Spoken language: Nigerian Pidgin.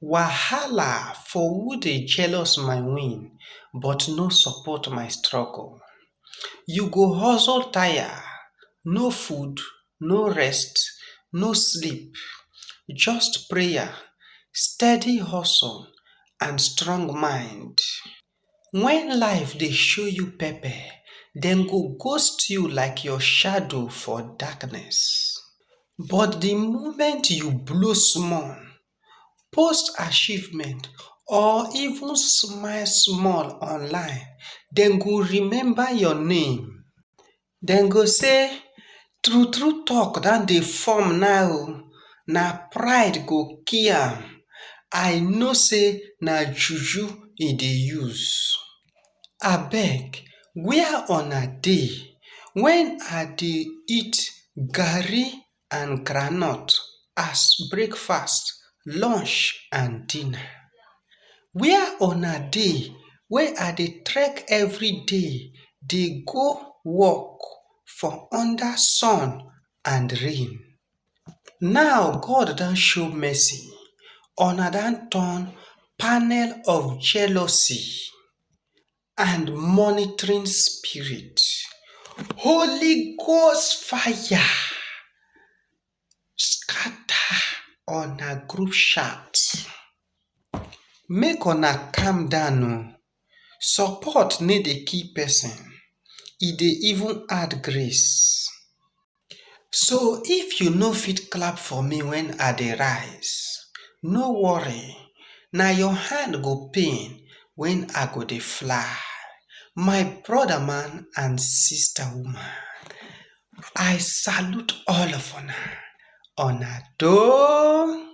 Wahala for who dey jealous my win but no support my struggle You go hustle tire, no food, no rest, no sleep Just prayer, steady hustle and strong mind. when life dey show you pepper dem go ghost you like your shadow for darkness but the moment you blow small post achievement or even smile small online dem go remember your name. Dem go say, True true talk don dey form now o, na pride go kill am, I know say na juju e dey use. Abeg, where una dey when I dey eat garri and groundnut as breakfast, lunch and dinner. Where una dey wey I dey trek everyday dey go work for under sun and rain. Now God don show mercy, una don turn panel of jealousy. and monitoring spirit, Holy Ghost fire scatter on a group chat. Make una calm down o. Oh. Support need a key person. It e dey even add grace. So if you no fit clap for me when I dey rise, no worry na your hand go pain when I go dey fly. My brother man and sister woman, I salute all of una, una doh!